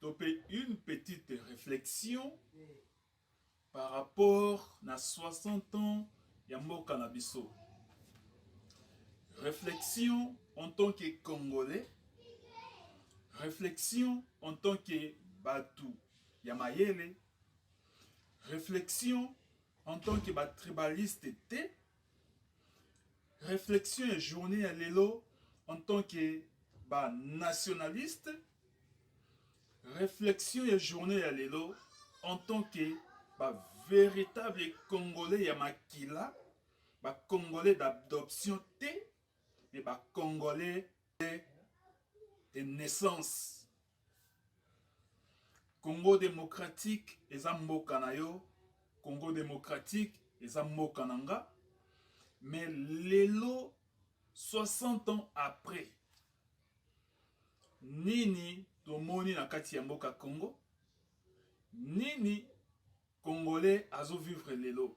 To pe une petite reflexion par rapport na 60 ans ya mboka na biso. Réflexion en tant que Congolais, réflexion en tant que Batu Yamayele, réflexion en tant que ba tribalistes Reflexion ya journée ya lelo en tant que ba nationaliste. Reflexion ya journée ya lelo en tant que ba véritable congolais ya makila, ba congolais d'adoption te, mais ba congolais de naissance. Congo democratique eza mboka na yo, Congo democratique eza mboka na nga, mais lelo 60 ans après nini tomoni na kati ya mboka Congo, nini congolais azo vivre lelo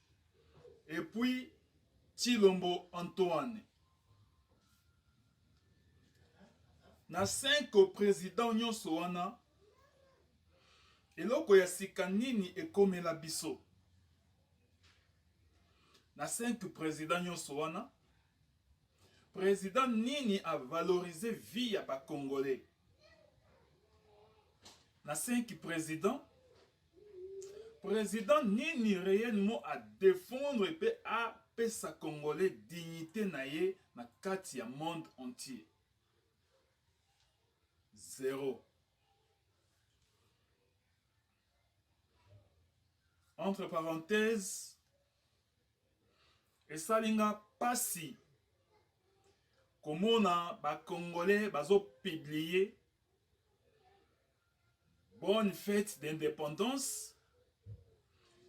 et puis Tshilombo Antoine na 5 president nyonso wana eloko ya sika nini ekomela biso na 5 president nyonso wana president nini avalorize vie ya bacongolais na 5 president President nini reellement a defendre pe a pesa congolais dignite na ye na kati ya monde entier? Zero. Entre parenthèses, esali nga pasi komona bakongole bazopublie Bonne fete d'independance.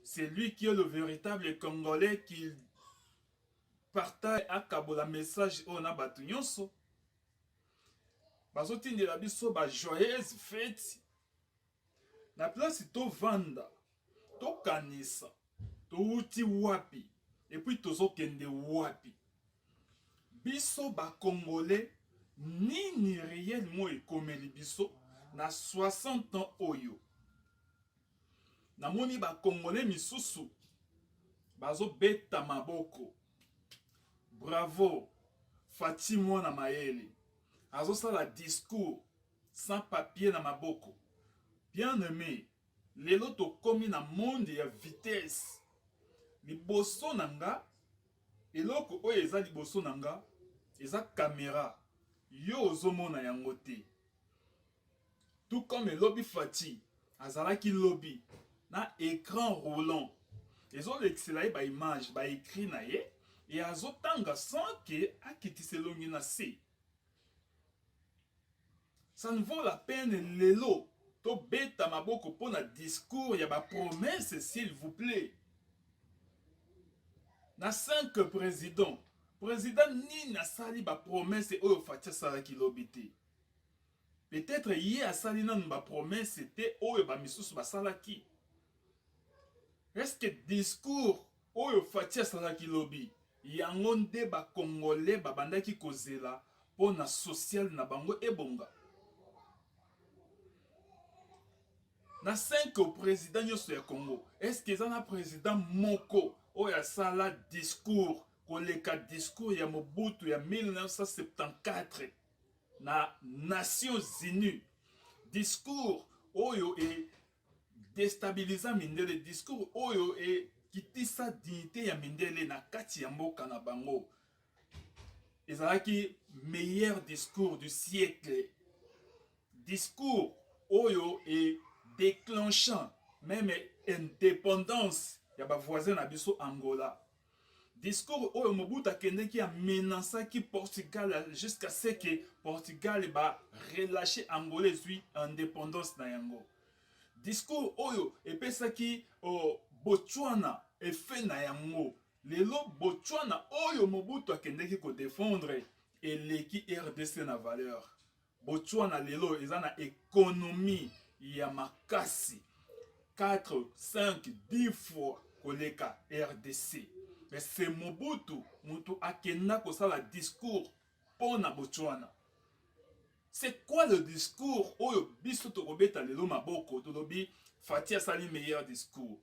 C'est lui qui est le véritable Congolais qui partage akabola message oyo na bato nyonso bazotindela biso ba joyeuse fete na place tovanda Tokanisa towuti wapi et puis tozo kende wapi? Biso ba congolais nini reellement ekomeli biso na 60 ans oyo? Namoni ba congolais misusu bazo beta maboko. Bravo Fatshi mwana mayele azosala discours sans papier na maboko. Bien aime Lelo tokomi na monde ya vitesse. Liboso na nga eloko oyo eza liboso na nga eza camera. Yo ozomona yango te. Tout comme lobi Fatih azalaki lobi na écran roulant ezolekisela ye ba image ba écrit na ye e azotanga sans ke akitisa elongi na se Ça ne vaut la peine lelo tobeta maboko mpo na discours ya bapromese s'il vous plaît na 5 président président nini asali bapromese oyo faci asalaki lobi te peut-être ye asali nanu bapromese te oyo bamisusu basalaki est-ce que discours Oyo Fatshi asalaki lobi yango nde ba congolais babandaki kozela pona social na bango ebonga. Na cinq president nyoso ya Congo est ce que eza na president moko oyo asala discours koleka discours ya Mobutu ya 1974 na Nations Unies? Discours oyo e destabiliza mindele discours oyo ekitisa dignité ya mindele na kati ya mboka na bango ezalaki meilleur discours du siècle discours oyo e déclenchant meme indépendance ya bavoisin na biso angola Discours oyo Mobutu akendeki a menacaki Portugal jusqu'à ce que Portugal ba relâche Angola ezui indépendance na yango. Discours oyo epesaki oh, Botswana effet na yango. Lelo Botswana oyo Mobutu akendeki ko défendre eleki RDC na valeur. Botswana lelo eza na economie ya makasi 4 5 10 fois koleka rdc mais se mobutu mutu akenda kosala discours mpo na botswana c'est quoi le discours oyo biso tokobeta lelo maboko tolobi fati asali meilleur discours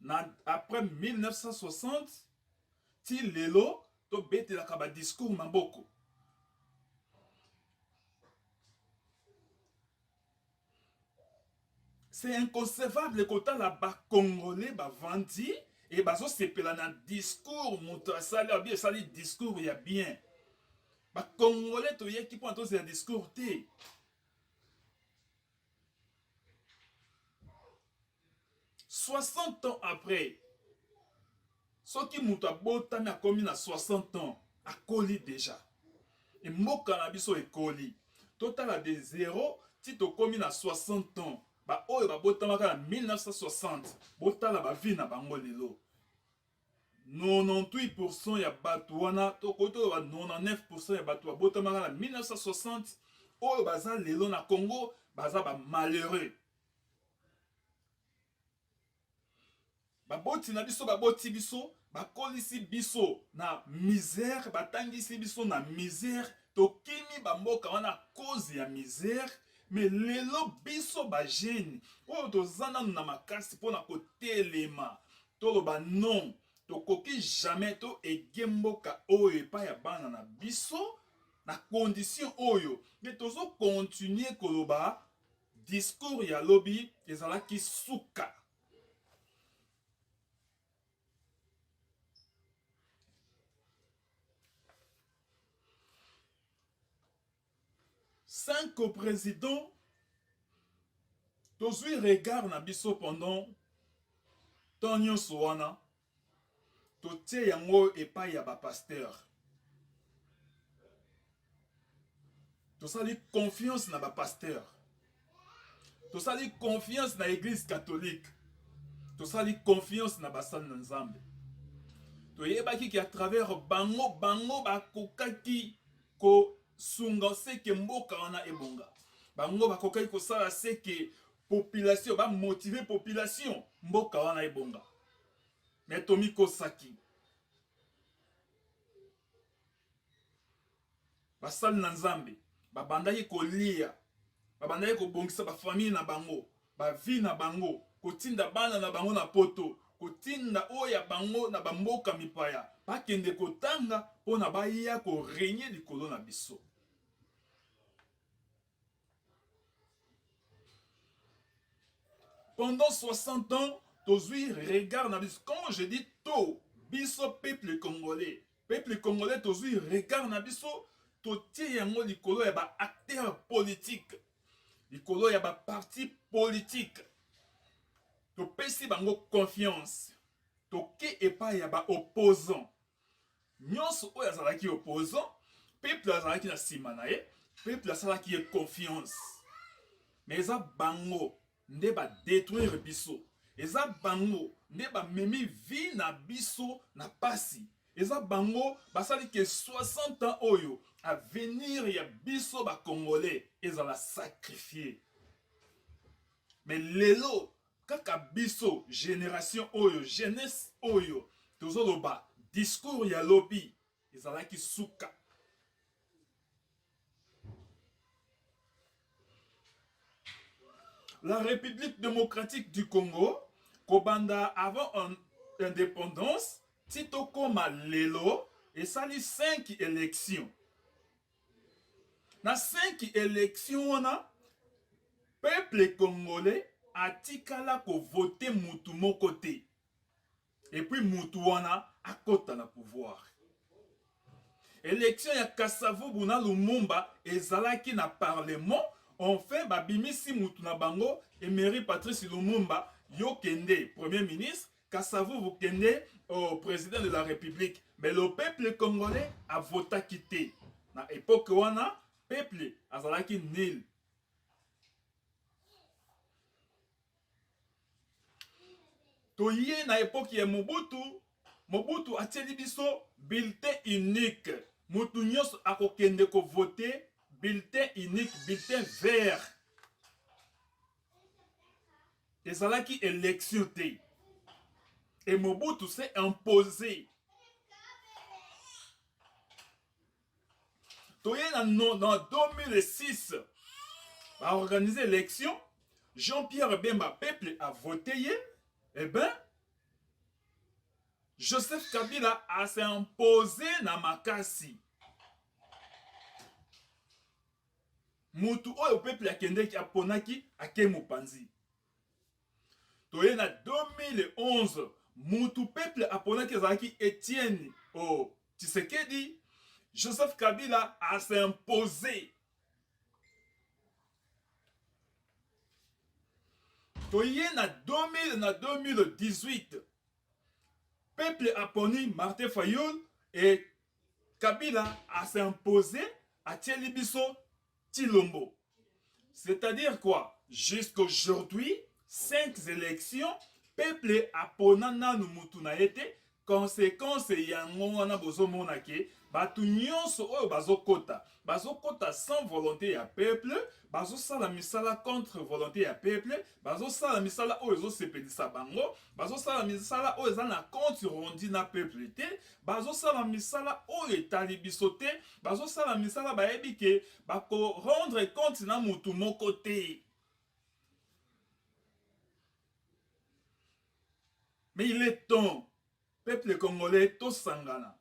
na après 1960 ti lelo tobetelaka badiscours maboko c'est inconcevable kotala bacongolais bavandi e bazosepela na discours moto asali abi esali discours ya bien bacongolais toyeki mpona tozela discours te 60 ans après soki moto abotami akomi na 60 ans akoli deja e mboka na biso ekoli totala de 0 ti tokomi na 60 ans baoyo babotamaka na 1960 botala bavi na bango lelo 98 pourcent ya bato wana tokoki toloba 99 pourcent ya bato babotamaka na 1960 oyo baza lelo na congo baza bamalheureux baboti na biso baboti biso bakolisi biso na misère batangisi biso na misère tokimi bamboka wana cause ya misère me lelo biso bagene oyo toza nano na makasi mpona kotelema toloba non tokoki jamais to ege mboka oyo epai ya bana na biso na condition oyo me tozo continue koloba discours ya lobi ezalaki suka Cinq co-presidents tozwi regard na biso pendant temps nyonso wana totie yango epai ya bapasteur tosali confiance na bapasteur tosali confiance na eglise catholique tosali confiance na basali na nzambe toyebaki ke à travers bango bango bakokaki kosunga seke mboka wana ebonga bango bakokaki kosala seke population bamotive population mboka wana ebonga me tomikosaki basali na nzambe babandaki kolia babandaki kobongisa bafamile na bango bavi na bango kotinda bana na bango na poto kotinda oyo ya bango na bamboka mipaya bakende kotanga mpo na baya korenye likolo na biso Pendant 60 ans, tozui regard na biso. Quand je dis to, biso peuple congolais, peuple congolais tozui regard na biso, totie yango likolo ya ba acteurs politiques, likolo ya ba partis politiques. Topesi bango confiance. Toke epai ya ba opposants. nyonso oyo azalaki opposant peuple azalaki na nsima na ye peuple asalaki ye confiance mais eza bango nde badetruire biso eza bango nde bamemi vie na biso na pasi eza bango basali ke 60 ans oyo avenir ya biso bacongolais ezala sacrifie mais lelo Kaka biso generation oyo jeunesse oyo tozo loba discours ya lobi ezalaki suka. La République démocratique du Congo kobanda avant un indépendance ti tokoma lelo esali 5 élections Na cinq election wana peuple congolais atikala ko voter mutu moko te et puis mutu wana akota na pouvoir. Election ya Kasavubu na Lumumba ezalaki na parlement enfin babimisi mutu na bango Emery Patrice Lumumba yo kende premier ministre Kasavubu kende au president de la republique mais le peuple congolais a votaki te na epoque wana peuple azalaki nil toye na epoque ya mobutu mobutu atieli biso bulletin unique motu nyonso akokende kovote bulletin unique bulletin vert Ezalaki election te. Et Mobutu s'est imposé. Toye en 2006, a organisé l'élection. Jean-Pierre Bemba, peuple a voté. Eh ben, Joseph Kabila a s'est imposé na Makassi. Mutu oyo peuple akendeki aponaki ake mopanzi. Toye na 2011 mutu peuple aponaki ezalaki Etienne oh, Tshisekedi. Joseph Kabila a s'imposer toye na 2000 na 2018 peuple aponi martin fayul e Kabila a s'impose atieli biso Chilombo. C'est-à-dire quoi? Jusqu'aujourd'hui, cinq élections, peuple apona nanu mutu na ye te. Conséquence yango wana bozomona ke bato nyonso oyo bazokota bazokota sans volonté ya peuple bazosala misala contre volonté ya peuple bazosala misala oyo ezosepelisa bango bazosala misala oyo eza na compte rondi na peuple te bazosala misala oyo etali biso te bazosala misala bayebi ke bakorendre compte na motu moko te mais il est temps peuple congolais tosangana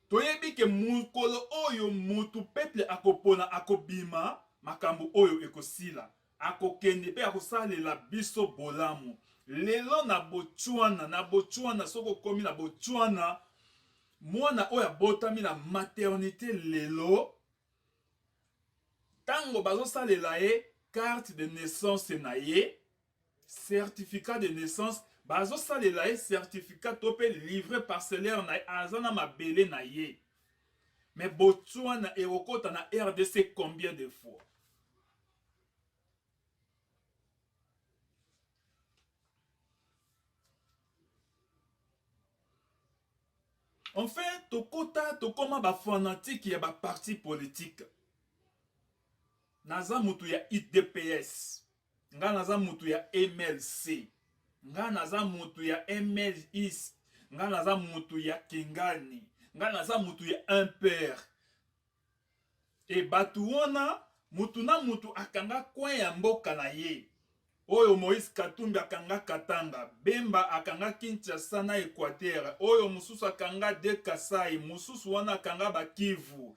Toyebi ke mokolo oyo mutu peuple akopona akobima, makambu oyo ekosila. Akokende pe akosalela biso bolamu. Lelo na Botswana, na Botswana soki okomi na Botswana, mwana oyo abotami na maternite lelo, tango bazosalela ye carte de naissance na ye, certificat de naissance bazosalela ye certificat to mpe livre parcellaire na ye aza na mabele na ye me botswana ekokota na rdc combien de fois enfin tokota tokoma bafanatike ya baparti politike naza moto ya idps Nga naza mutu ya MLC. Nga naza mutu ya MLIS. Nga naza mutu ya Kingani. Nga naza mutu ya MPR. E batu wana mutu na mutu akanga coin ya mboka na ye. Oyo Moïse Katumbi akanga Katanga, Bemba akanga Kinshasa na Equateur, oyo mususu akanga de Kasai, mususu wana akanga ba Kivu.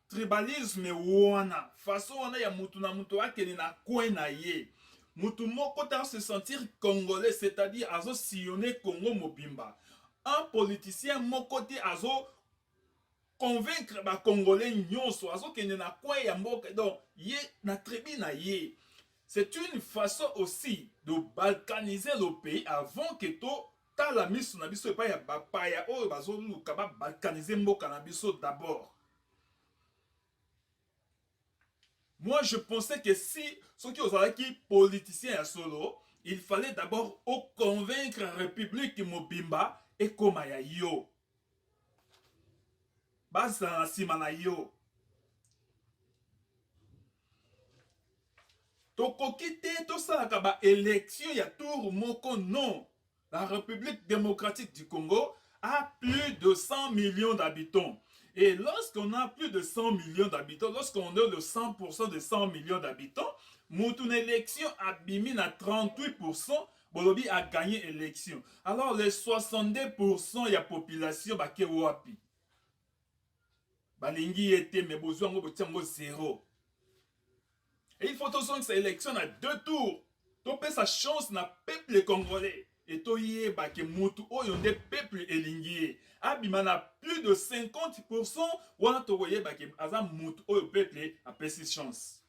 Tribalisme wana, façon wana ya mutu na mutu akende na coin na ye. Mutu moko ta se sentir congolais, c'est-à-dire azo sillonner Congo mobimba. Un politicien moko te azo convaincre ba congolais nyonso, azo kende na coin ya mboka donc ye na tribu na ye. C'est une façon aussi de balkaniser le pays avant que to Tala misu na biso epai ya bapaya oyo bazoluka ba balkaniser mboka na biso d'abord. Moi je pensais que si soki ozalaki politicien ya solo il fallait d'abord o convaincre republique mobimba ekoma ya yo. bazala na nsima na yo. tokoki te tosalaka baelektio ya tour moko non la république démocratique du congo a plus de 100 millions d'habitants et lorsqu'on a plus de 100 millions d'habitants lorsqu'on est le 100% de 100 millions d'habitants mutu na élection abimi na 38% Bolobi a gagne election. Alors les 62% ya population bake wapi? Balingi ye te mais bozwa yango botia yango zero. Et il faut tozongisa election na deux tours. Topesa chance na peuple congolais. Et toyeba ke mutu oyo nde peuple elingi ye. Abima na plus de 50% wana tokoyeba ke aza mutu oyo peuple apesi chance.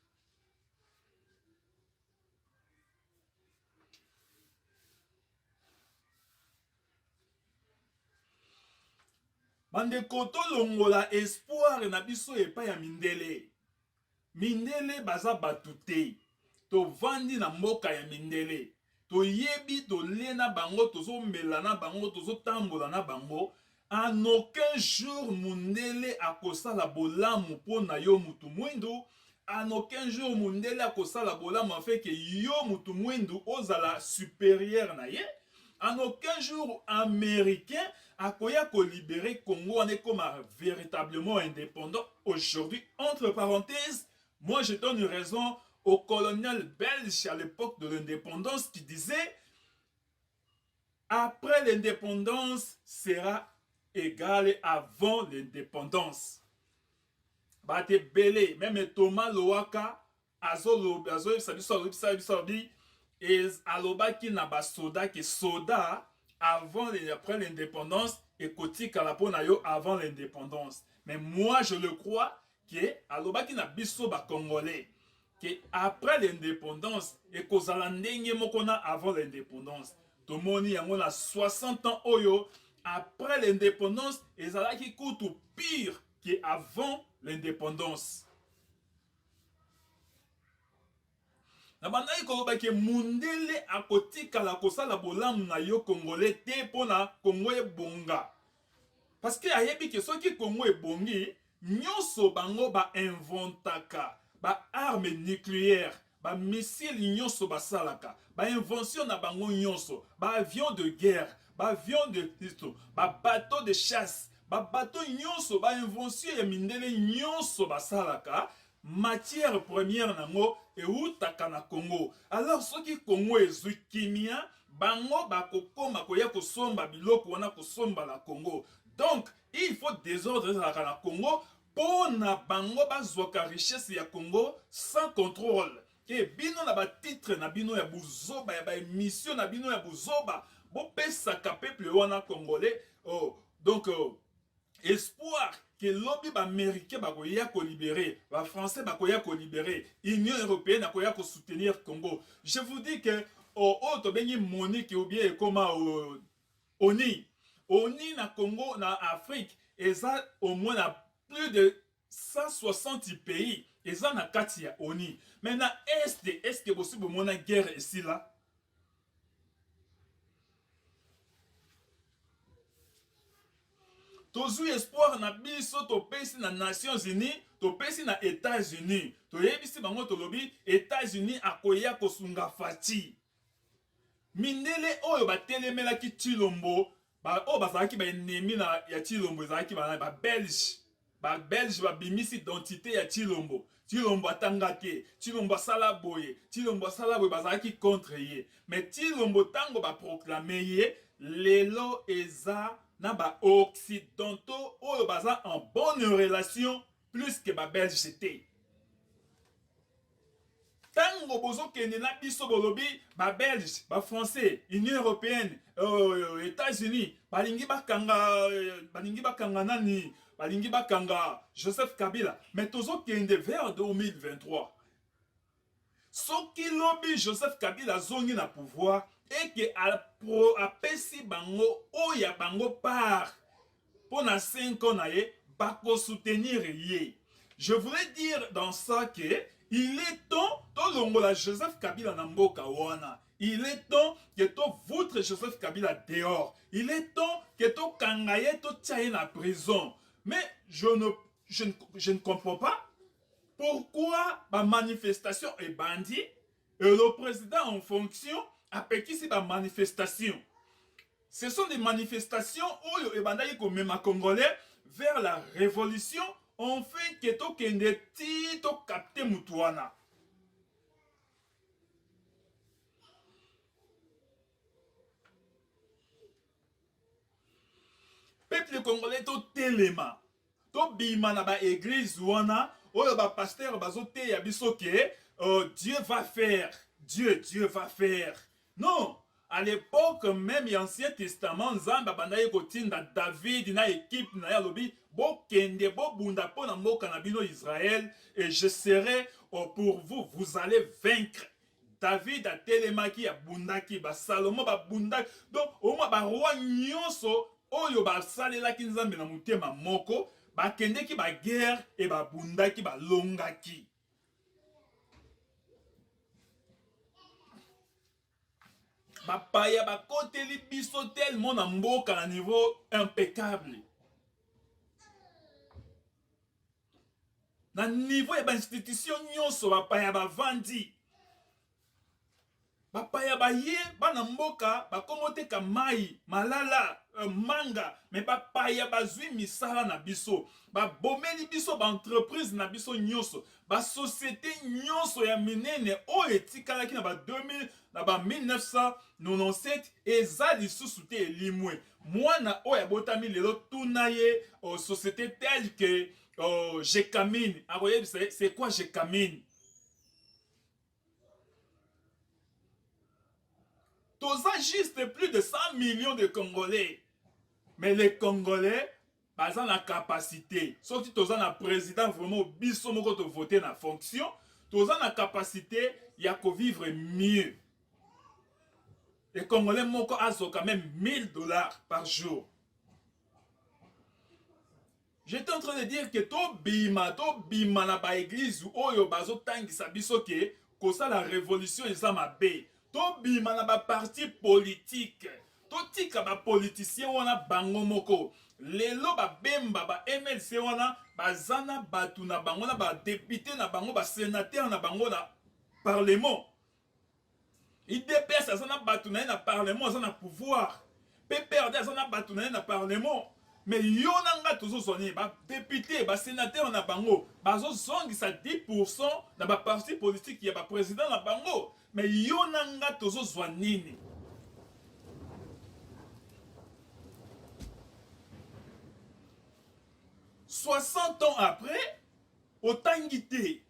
bandeko tolongola espoire na biso epai ya mindele mindele baza bato te tovandi na mboka ya mindele toyebi tolie na bango tozomela na bango tozotambola na bango En aucun jour mundele akosala bolamu po na yo mutu muindu, en aucun jour mundele akosala bolamu afin que yo mutu muindu ozala superieur na ye, en aucun jour americain akoya ko liberer Congo wana ekoma veritablement independant, aujourd'hui entre parenthèses moi je donne raison au colonel belge à l'epoque de l'independance qui disait Après l'independance sera egale avant l'independance. Bato ebele, meme Thomas Lowaka azoyebisa biso alobisa biso abi alobaki na basoda ke soda avant et après l'indépendance et kotikala mpo na yo avant l'indépendance. Mais moi je le crois que alobaki na biso ba congolais que après l'indépendance ekozala ndenge moko na avant l'indépendance tomoni yango na 60 ans oyo après l'indépendance ezalaki kutu pire que avant l'indépendance Nabandaki koloba ke mundele akotikala kosala bolamu na yo congolais te pona Congo ebonga. Parce que ayebi ke soki Congo ebongi nyoso bango ba inventaka ba arme nucleaire ba missile nyoso basalaka ba invention na bango nyoso ba avion de guerre ba avion de ba bateau de chasse ba bateau nyoso ba invention ya mindele nyoso basalaka matière première nango ewutaka na Congo. Alors soki Congo ezwi kimia, bango bakokoma koya kosomba biloko wana kosomba na Congo. Donc il faut desordre ezalaka na Congo mpo na bango bazwaka richesse ya Congo sans contrôle. E bino na batitre na bino ya buzoba ya baemission na bino ya buzoba bopesaka peuple wana congolais oh, donc oh, espoir que lobi ba americain bakoya ko libere ba français bakoya ko libere union européenne akoya ko soutenir congo je vous dis que oh, oh tobengi monique ou bien ekoma oh, oni oni na congo na afrique eza au moins na plus de 160 pays eza na kati ya ONU mais na est est ce que bosi bomona guerre esila tozwi espoir na biso topesi na nations unis topesi na états-unis toyebisi bango tolobi états-unis akoya kosunga faci Mindele oyo batelemelaki Tshilombo ba oyo bazalaki ba ennemi na ya Tshilombo ezalaki ba ba Belge ba Belge babimisi identite ya Tshilombo Tshilombo atanga te Tshilombo asala boye Tshilombo asala boye bazalaki contre ye mais Tshilombo tango ba proclame ye lelo eza na ba occidentaux oyo baza en bonne relation plus que ba belge c'était tango bozokende na biso bolobi babelge bafrançais union européenne euh, états-unis balingi bakanga euh, balingi bakanga nani balingi bakanga joseph kabila mais tozokende vers 2023 Soki lobi Joseph Kabila azongi na pouvoir et que apesi bango oyo ya bango part pona 5 ans na ye bako soutenir ye. Je voulais dire dans ça que il est temps tolongola Joseph Kabila na mboka wana. Il est temps que to voutre Joseph Kabila dehors. Il est temps que to kanga ye to tia ye na prison. Mais je ne, je ne, je ne comprends pas Pourquoi ba manifestation ebandi et le président en fonction apekisi ba manifestation Ce sont des manifestations oyo ebandaki komema congolais vers la révolution enfin ke tokende ti tokapte motu wana peuple congolais totelema Tobima na ba eglise wana oyo ba pasteur bazoteya biso ke euh, Dieu va faire Dieu Dieu va faire non à l'époque même ya ancien testament nzambe abandaki kotinda david na ekipe na ye alobi bokende bobunda mpo na mboka na bino israel et je serai euh, pour vous vous allez vaincre David atelemaki, abundaki, ba Salomo babundaki, donc omwa ba roi nyonso oyo basalelaki Nzambe na motema moko bakendeki ba guerre et babundaki balongaki. bapaya bakoteli biso tellement na mboka na niveau impeccable na niveau ya bainstitution nyonso bapaya bavandi bapaya baye bana mboka bakomoteka mai malala euh, manga me bapaya bazwi misala na biso babomeli biso baentreprise na biso nyonso basosiete nyonso ya minene oyo etikalaki na ba 2000 na ba 1997 eza lisusu te elimwe Mwana oyo abotami lelo tuna ye oh, société telle que oh, Jekamine akoyebisa ye c'est quoi Jekamine. Toza juste plus de 100 millions de Congolais. Mais les Congolais baza na capacité soki toza na président vraiment biso moko to voter na fonction toza na capacité ya ko vivre mieux et congolais moko azo quand même 1000 dollars par jour j'étais en train de dire que to bima to bima na ba église oyo bazo tangisa biso que kosala révolution eza mabe tobima na ba parti politique totika ba politicien wana bango moko lelo babemba ba mlc wana baza na bato na bango na badepute na bango basenatere na bango na parlement idps aza na bato na ye na parlement aza na pouvoir PPRD aza na bato na ye na parlement mais yo na nga tozozwa nini badepute basenatere na bango bazozongisa 10 pourcent na baparti politiki ya bapresident na bango mais yo na nga tozozwa nini soixante ans après otangi te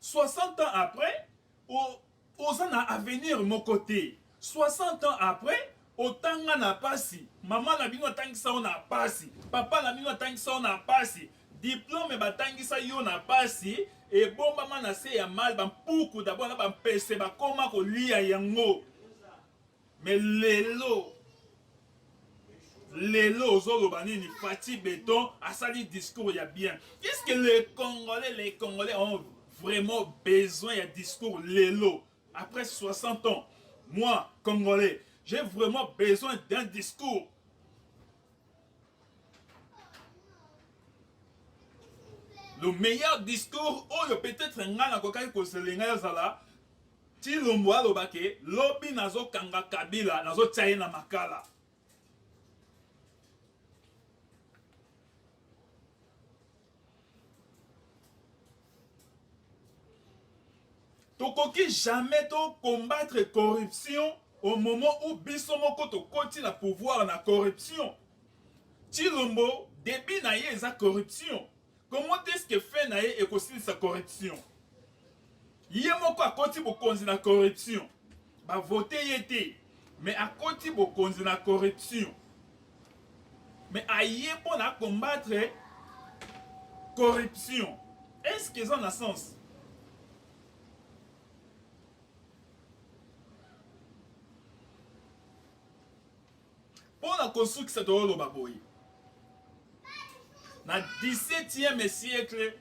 60 ans après o, oza na avenir moko te 60 ans après otanga na pasi mama na bino atangisa yo na pasi papa na bino atangisa yo na pasi diplome batangisa yo na pasi ebombama na se ya mal bampuku dabona bampese bakoma kolia yango Mais lelo lelo ozoloba nini Fatih Beton asali discours ya bien est-ce que les congolais les congolais ont vraiment besoin ya discours lelo après 60 ans moi congolais j'ai vraiment besoin d'un discours le meilleur discours oyo peut-être ngai nakokaki kozela ngai azala Tshilombo aloba ke lobi nazo kanga Kabila nazo tia ye na makala. Tokoki jamais to combattre corruption au moment où biso moko tokoti na pouvoir na corruption. Tshilombo debut na ye eza corruption. Comment est-ce que fin na ye ekosilisa corruption? Ye moko akoti bokonzi na corruption. Ba vote ye te, mais akoti bokonzi na corruption. Mais aye mpo na combattre corruption. Est-ce que eza na sens? Mpo na kosukisa, toloba boye, na 17e siècle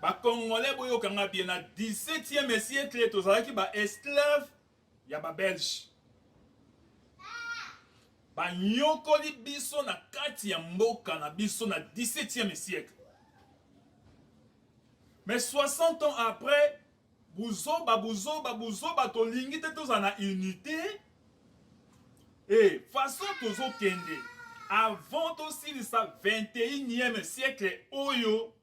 ba congolais boyoka nga bien, na 17e siècle tozalaki ba esclaves ya ba belge, banyokoli biso na kati ya mboka na biso na 17e siècle mais 60 ans après Buzoba buzoba buzoba tolingi te tozala na unité et façon tozokende avant tosilisa 21e siècle oyo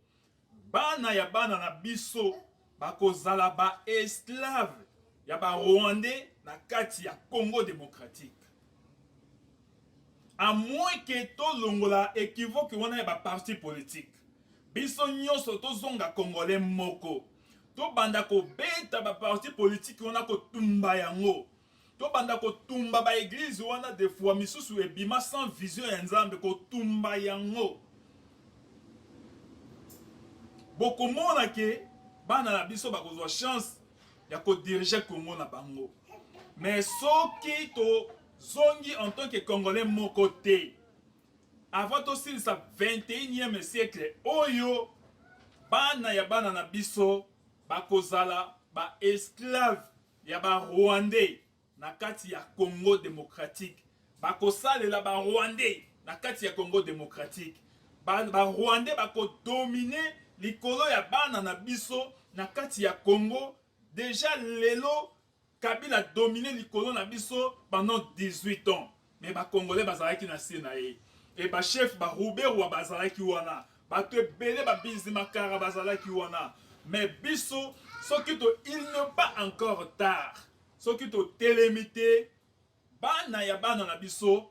bana ya bana na biso bakozala ba esclave ya ba rwandais na kati ya Congo démocratique à moins que tolongola equivoque wana ya ba parti politique biso nyonso tozonga congolais moko tobanda kobeta baparti politiki wana kotumba yango tobanda kotumba baeglize wana de fois misusu ebima sans vision ya nzambe kotumba yango bokomona ke bana na biso bakozwa chance ya kodirige congo na bango mais soki tozongi en tant que congolais moko te Avant tosilisa 21eme siècle oyo, bana ya bana na biso bakozala ba esclaves ya ba Rwandais na kati ya Congo democratique. Bakosalela ba Rwandais na kati ya Congo democratique. Ba, ba Rwandais bako dominer likolo ya bana na biso na kati ya Congo. Deja lelo Kabila a domine likolo na biso pendant 18 ans mais ba congolais bazalaki na se na ye et ba chef ba ruberwa bazalaki wana bato ebele ba bizimakara bazalaki wana mais biso soki to il ne pas encore tard soki totelemi te bana ya bana na biso